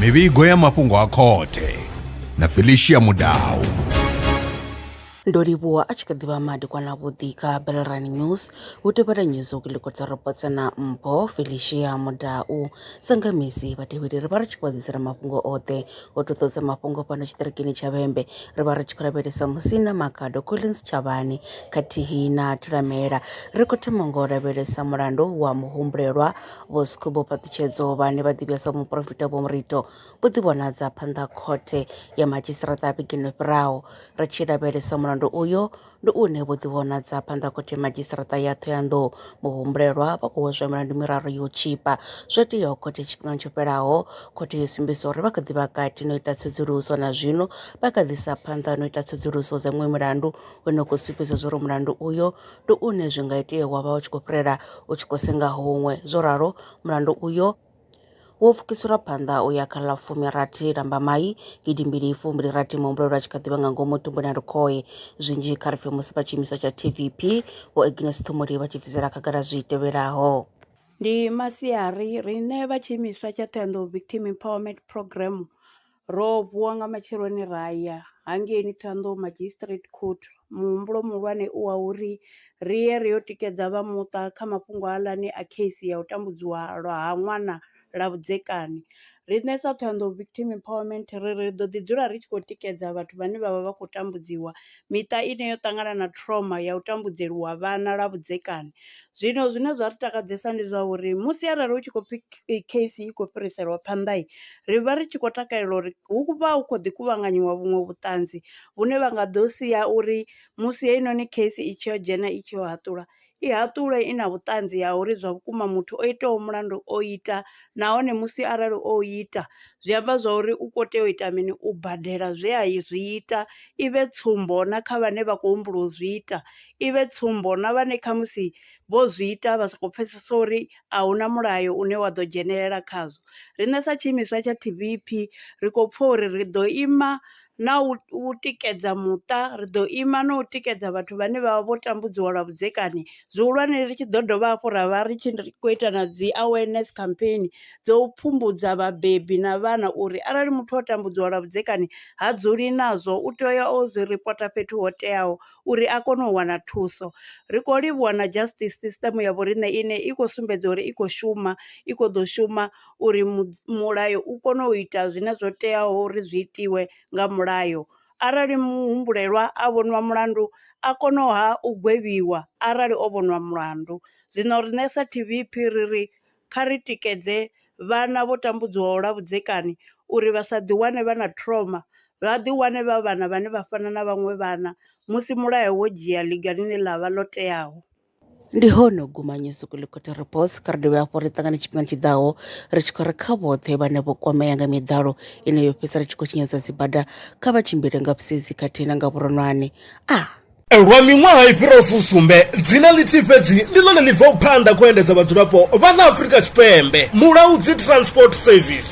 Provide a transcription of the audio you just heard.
mivhigo ya mafhungo a khothe na felicia mudau ndo livhuwa a tshi kha ḓivha madekwana vhuḓi kha belrani news hu tevhela news u kiliko dza robotsa na mpho felicia mudau sangamisi vhatevheli ri vha ri tshi khou ḓisela mafhungo oṱhe Vho ṱoḓa mafhungo fhano tshiṱirikini tsha Vhembe ri vha ri tshi khou lavhelesa musina Makhado Collins Tshavhani khathihi na Thulamela. Ri khou thoma ngo lavhelesa mulandu wa muhumbulelwa Vho Skhumbo Phaṱhutshedzo vhane vha ḓivhiwa sa muporofita Vho Murito vho ḓivhonadza phanḓa khothe ya madzhisiṱiraṱa vhegeni fhiraho. Ri tshi lavhelesa mulandu uyo Ndi hune vho ḓivhonadza phanḓa khothe madzhisiṱiraṱa ya Thohoyandou muhumbulelwa vha khou hweswa milandu miraru ya u tshipa zwo teaho khothe tshifhingani tsho fhelaho. Khothe yo sumbedzisa uri vha kha ḓi vha kati na u ita tsedzuluso na zwino vha kha ḓi sa phanḓa na u ita tsedzuluso dza miṅwe milandu une u khou sumbedza zwauri mulandu uyo ndi une zwi nga itea wa vha u tshi khou fhirela u tshi khou senga huṅwe. Zwo ralo mulandu uyo wo pfukiselwa phanḓa u ya kha ḽa fumirathi Lambamai gidimbili fumbili rathi muhumbulelwa tshi kha ḓivha nga ngomu tumbuni a lukhohe zwinzhi kha ri pfhe musi vha tshiimiswa tsha TVP vho Agnes Ṱhumuli vha tshi bvisela khagala zwi tevhelaho Ndi masiari, riṋe vha tshiimiswa tsha Ṱhohoyanḓou Victim Empowerment Programme Ro vuwa nga matsheloni ra ya hangeini Thohoyandou Magistrate Court. Muhumbulo muhulwane u wa uri ri ye ri yo tikedza vha muṱa kha mafhungo haaḽani a case ya u tambudziwa lwa ha ṅwana ḽa vhudzekani. Riṋe sa Thohoyandou Victim Empowerment ri ri ḓo ḓi dzula ri tshi khou tikedza vhathu vhane vha vha vha khou tambudziwa miṱa ine yo ṱangana na trauma ya u tambudzeliwa vhana lwa vhudzekani. Zwino zwine zwa ri takadzesa ndi zwa uri musi arali hu tshi khou pfhi case i khou fhiriselwa phanḓa, ri vha ri tshi khou takalela uri hu vha hu khou ḓi kuvhanganyiwa vhuṅwe vhuṱanzi vhune vha nga ḓo sia uri musi heinoni case i tshi yo dzhena i tshi yo haṱulwa i haṱulwe i na vhuṱanzi ha uri zwa vhukuma muthu o itaho mulandu o ita nahone musi arali o ita zwi amba zwa uri u kho tea u ita mini u badela zwe a i zwi ita, i vhe tsumbo na kha vhane vha kho humbula u zwi ita, i vhe tsumbo na vhane kha musi vho zwi ita vha soko pfhesesa uri a hu na mulayo une wa ḓo dzhenelela khazwo. Riṋe sa tshiimiswa tsha T_V_P ri khou pfha uri ri ḓo ima na u tikedza muṱa, ri ḓo ima na u tikedza vhathu vhane vha vha vho tambudziwa lwa vhudzekani, zwihulwane ri tshi ḓo dovha hafhu ra vha ri tshi kho ita na dzi awareness campaign dzo pfhumbudza vhabebi na vhana uri arali muthu o tambudziwa lwa vhudzekani ha dzuli nazwo u tea u ya o zwi ripota fhethu ho teaho uri a kone u wana thuso. Ri kho livhuwa na justice system ya vho riṋe ine i khou sumbedza uri i khou shuma i kho ḓo shuma uri mulayo u kone u ita zwine zwo teaho uri zwi itiwe nga mulayo, arali muhumbulelwa a vhoniwa mulandu a kono ha u gwevhiwa arali o vhoniwa mulandu. Zwino riṋe sa T_V_P ri ri kha ri tikedze vhana vho tambudzwaho lwa vhudzekani uri vha sa ḓi wane vha na trauma, vha ḓi wane vha vhana vhane vha fana na vhaṅwe vhana musi mulayo wo dzhia ḽiga ḽine ḽavha ḽo teaho. Ndi hone u guma New Sukolukoti Reports kha ri dovhe hafhu ri ṱangane tshifhingani tshi ḓaho ri tshi khou ri kha vhoṱhe vhane vho kwamea nga miḓalo ine yo fhedzisela i tshi khou tshinyadza dzibada kha vha tshimbile nga vhusedzi khathihi na nga vhuronwane. A. Lwa miṅwaha i fhiraho fusumbe, dzina ḽithihi fhedzi ndi ḽone ḽi bvaho phanḓa kha u endedza vhadzulapo vha ḽa Afrika Tshipembe, Mulaudzi Transport Service.